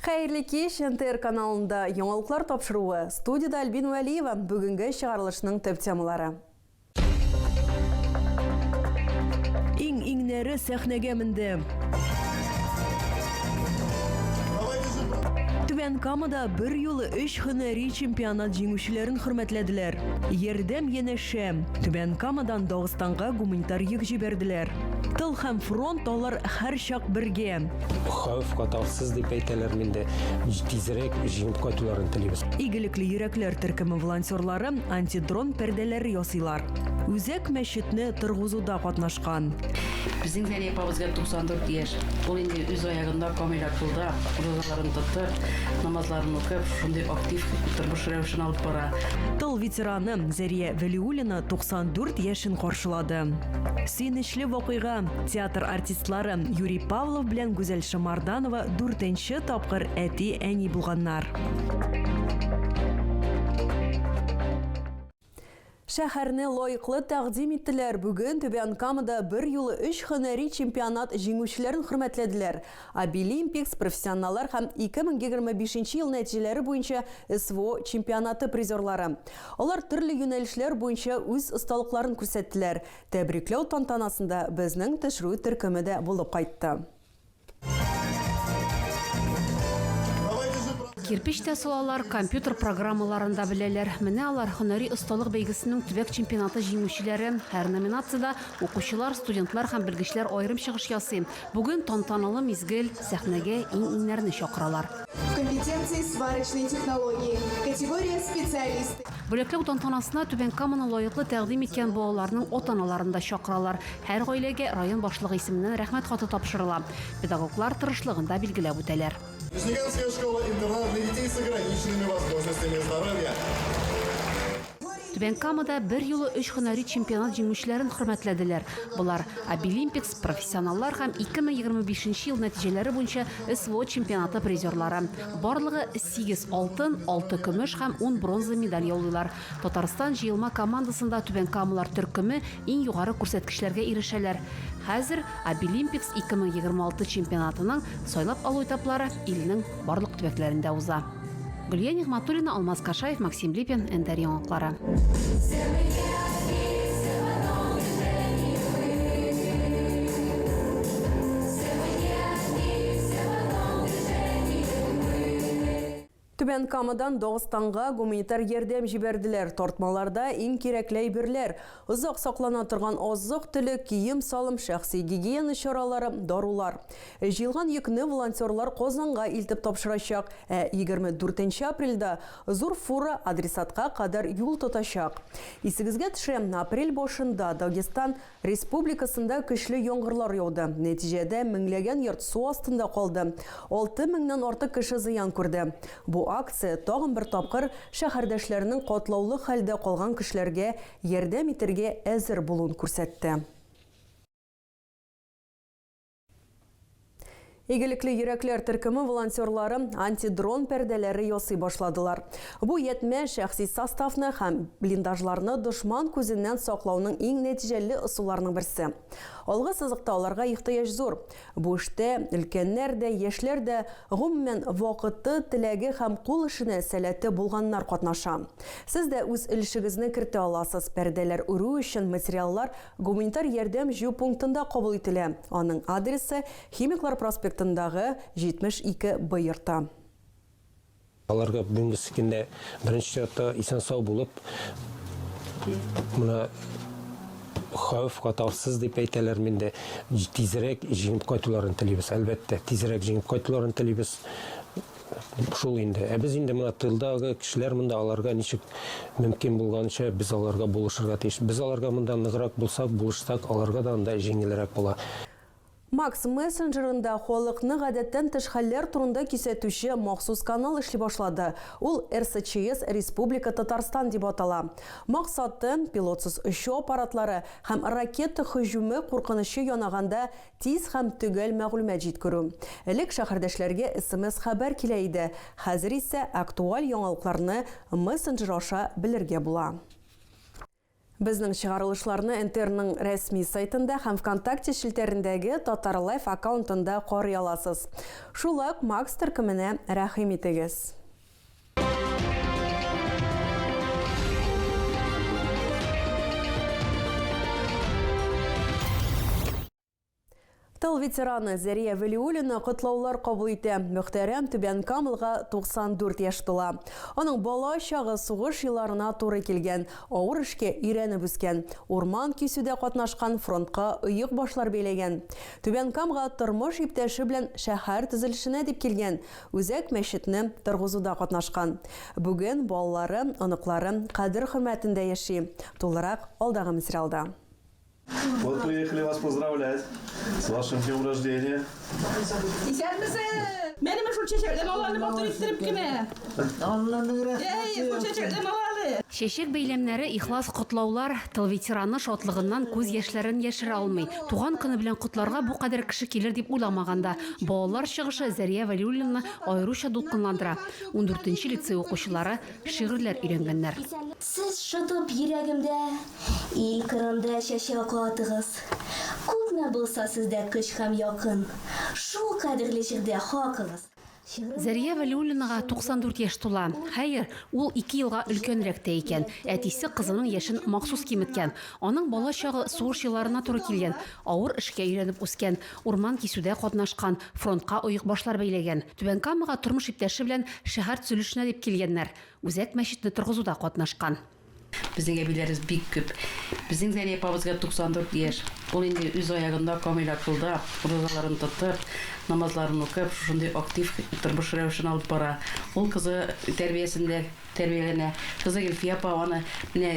Хәерле кич, НТР каналында яңалыклар тапшыруы. Студияда Альбин Вәлиева, бүгенге чыгарылышның төп темалары. Иң-иңнәре сәхнәгә менде. Түбән Камада бер юлы өч һөнәри чемпионат җиңүчеләрен хөрмәтләделәр. Ярдәм янәшә. Түбән Камадан Дагыстанга гуманитар йөк җибәрделәр. Тыл һәм фронт алар һәрчак бергә. Хәвеф катарсыз дип әйтәләр миндә. Тизрәк җиңеп кайтуларын телибез. Игелекле йөрәкләр төркеме волонтерлары антидрон пәрдәләре ясыйлар. Үзәк мәчетне торгызуда катнашкан. Безнең Зәли апабызга 94 яшь. Ул инде үз аягында камил акылда, рузаларын тотып, намазларын укып, шундый актив тормыш рәвешен алып бара. Тыл ветераны Зәрия Вәлиуллина 94 яшен каршылады. Сөенечле вакыйга, театр артистлары Юрий Павлов белән Гүзәл Шамарданова дүртенче тапкыр әти-әни булганнар. Шәһәрне лаеклы тәкъдим иттеләр. Бүген Түбән Камада бер юлы өч һөнәри чемпионат җиңүчеләрен хөрмәтләделәр. Обилимпикс профессионаллар һәм 2025 нче ел нәтиҗәләре буенча СВО чемпионаты призерлары. Алар төрле юнәлешләр буенча үз осталыкларын күрсәттеләр. Тәбрикләү тантанасында безнең төшерү төркеме дә булып кайтты. Кирпеч тә салалар, компьютер программаларын да беләләр. Менә алар, һөнәри осталык бәйгесенең төбәк чемпионаты җиңүчеләре. Һәр номинациядә укучылар, студентлар һәм белгечләр аерым чыгыш ясый. Бүген тантаналы мизгел, сәхнәгә иң-иңнәрне чакыралар. Компетенции сварочной технологии категория специалисты. Бүләкләү тантанасына Түбән Каманы лаеклы тәкъдим иткән балаларның ата-аналарын да чакыралар. Һәр гаиләгә район башлыгы исеменнән Рәхмәт хаты тапшырыла. Педагоглар тырышлыгын да билгеләп үтәләр. Нижнекамская школа-интернат для детей с ограниченными возможностями здоровья. Түбән Камада бер юлы өч һөнәри чемпионат җиңүчеләрен хөрмәтләделәр. Болар Обилимпикс, профессионаллар һәм 2025 ел нәтиҗәләре буенча СВО чемпионаты призерлары. Барлыгы сигез алтын, алты көмеш һәм ун бронза медаль яулыйлар. Татарстан җыелма командасында түбәнкамалар төркеме иң югары күрсәткечләргә ирешәләр. Хәзер Обилимпикс 2026 чемпионатының сайлап алу этаплары илнең барлык төбәкләрендә уза. Гөлия Нигъмәтуллина, Алмаз Кашаев, Максим Липин, НТР яңалыклары. Түбән Камадан Дагыстанга гуманитар ярдәм җибәрделәр. Тартмаларда иң кирәкле әйберләр, озак саклана торган азык-төлек, кием-салым, шәхси гигиена чаралары, дарулар. Җыелган йөкне волонтерлар Казанга илтеп тапшырачак, ә егерме дүртенче апрельдә зур фура адресатка кадәр юл тотачак. Исегезгә төшерәм, апрель башында Дагестан Республикасында көчле яңгырлар яуды, нәтиҗәдә меңләгән йорт су астында калды, алты меңнән артык кеше зыян күрде. Бу акция тагын бер тапкыр шәһәрдәшләрнең катлаулы хәлдә калган кешеләргә ярдәм итәргә әзер булуын күрсәтте. Игелекле йөрәкләр төркеме волонтерлары антидрон пәрдәләре ясый башладылар. Бу ятьмә шәхси составны һәм блиндажларны дошман күзеннән саклауның иң нәтиҗәле ысулларының берсе. Алгы сызыкта аларга ихтыяҗ зур. Бу эштә өлкәннәр дә, яшьләр дә, гомумән, вакыты, теләге һәм кул эшенә сәләте булганнар катнаша. Сез дә үз өлешегезне кертә аласыз, пәрдәләр үрү өчен материаллар Гуманитар ярдәм җыю пунктында кабул ителә. Аның адресы, Химиклар проспектындагы 72 Б йорты. Аларга бүгенге көндә беренче чиратта исән-сау булып, менә хәвеф-хатарсыз дип әйтәләрме инде, тизрәк җиңеп кайтуларын телибез. Әлбәттә, тизрәк җиңеп кайтуларын телибез. Шул инде. Ә без инде менә тылдагы кешеләр монда аларга ничек мөмкин булганча без аларга булышырга тиеш. Без аларга монда ныграк булсак, булышсак, аларга да анда җиңелрәк була. Макс мессенджерында халыкны гадәттән тыш хәлләр турында кисәтүче махсус канал эшли башлады. Ул РСЧС Республика Татарстан дип атала. Максаты, пилотсыз очу аппаратлары һәм ракета һөҗүме куркынычы янаганда Тиз һәм төгәл мәгълүмат җиткерү. Элек шәһәрдәшләргә смс-хәбәр килә иде, хәзер исә актуаль яңалыкларны мессенджер аша белергә була. Безнең чыгарылышларны НТРның рәсми сайтында һәм ВКонтакте челтәрендәге Татарлайф аккаунтында карый аласыз. Шулай ук Макс төркеменә рәхим итегез. Тыл ветераны Зәрия Вәлиуллина котлаулар кабул итә. Мөхтәрәм Түбән Камылга 94 яшь тула. Аның бала чагы сугыш елларына туры килгән, авыр эшкә өйрәнеп үскән, урман кисүдә катнашкан, фронтка оек башлар бәйләгән. Түбән Камга тормыш иптәше белән шәһәр төзелешенә дип килгән. Үзәк мәчетне торгызуда катнашкан. Бүген балалары, оныклары кадер-хөрмәтендә яши. Тулырак алдагы мсриалда. Вот приехали вас поздравлять с вашим днем рождения. Исәнмесез! Менеме шул чәчәкле баланы матур иттереп кенә! Алланың рәхмәте яусын! Әй, шул чәчәкле баланы! Чәчәк бәйләмнәре, ихлас котлаулар, тыл ветераны шатлыгыннан күз яшьләрен яшерә алмый. Туган көне белән котларга бу кадәр кеше килер дип уйламаган да. Балалар чыгышы Зәрия Вәлиуллинаны аеруча дулкынландыра. Ундүртенче лицей укучылары шигырьләр өйрәнгәннәр. Сез шытып йөрәгемдә, Ил кырында чәчәк атыгыз. Күпме булса сездә көч һәм якын, Шул кадерле җирдә хакыгыз. Зәрия Вәлиуллинага 94 яшь тула. Хәер, ул ике елга өлкәнрәк тә икән. Әтисе кызының яшен махсус киметкән. Аның бала чагы сугыш елларына туры килгән, авыр эшкә өйрәнеп үскән. Урман кисүдә катнашкан, фронтка оекбашлар бәйләгән. Түбән Камага тормыш иптәше белән шәһәр төзелешенә дип килгәннәр. Үзәк мәчетне торгызуда катнашкан. Безнең әбиләребез бик күп. Безнең Зәли апабызга 94 яшь. Ул инде үз аягында камил акылда, уразаларын тотып, намазларын укып, шушындый актив тормыш рәвешен алып бара. Ул кызы тәрбиясендә тәрбияләнә. Кызы Гөлфия апа аны менә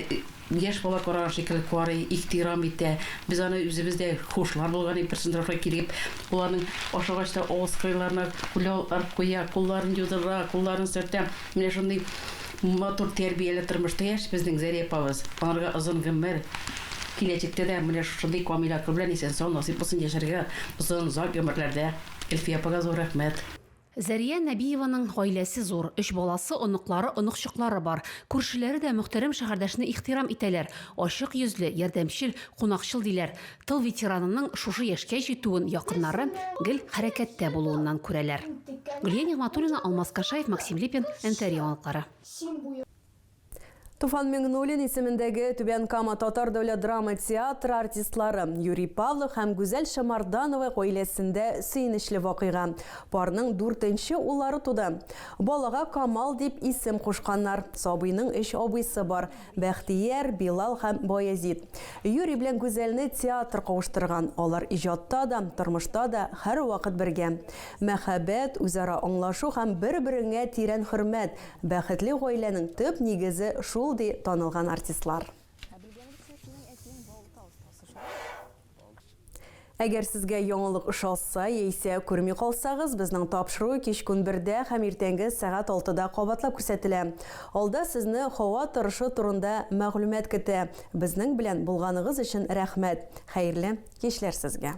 Яшь бала караган шикелле карый, ихтирам итә. Без аны үзебез дә хушлар булган идек, берсен рафга килеп, ул аның ашагач та авыз кырыйларына куле арып куя, кулларын юдыра, кулларын сөртә. Менә шундый матур тәрбияле тормышта яши безнең Зәри апабыз. Аларга озын гомер, киләчәктә дә менә шушындый камил акыл белән исән-сау насыйп булсын яшәргә, озын, озак гомерләрдә. Элфия апага зур рәхмәт. Зәрия Нәбиеваның гаиләсе зур, өч баласы, оныклары, оныкчыклары бар. Күршеләре дә мөхтәрәм шәһәрдәшне ихтирам итәләр, ачык йөзле, ярдәмчел, кунакчыл, диләр. Тыл ветеранының шушы яшькә җитүен якыннары гел хәрәкәттә булуыннан күрәләр. Гөлия Нигъмәтуллина, Алмаз Кашаев, Максим Липин, НТР яңалыклары. Туфан Миңнуллин исемендәге Түбән Кама татар дәүләт драма театры артистлары Юрий Павлов һәм Гүзәл Шамарданова гаиләсендә сөенечле вакыйга. Парның дүртенче уллары туды. Балага Камал дип исем кушканнар. Сабыйның өч абыйсы бар, Бәхтияр, Билал һәм Баязит. Юрий белән Гүзәлне театр кавыштырган, алар иҗатта да, тормышта да һәрвакыт бергә. Мәхәббәт, үзара аңлашу һәм бер-береңә тирән хөрмәт, Бәхетле гаиләнең төп нигезе шул, ди танылган артистлар. Әгәр сезгә яңалык ошаса яисә күрми калсагыз, безнең тапшыру кичке унбердә һәм иртәнге сәгать алтыда кабатлап күрсәтелә. Алда сезне һава торышы турында мәгълүмат көтә. Безнең белән булганыгыз өчен рәхмәт! Хәерле кичләр сезгә!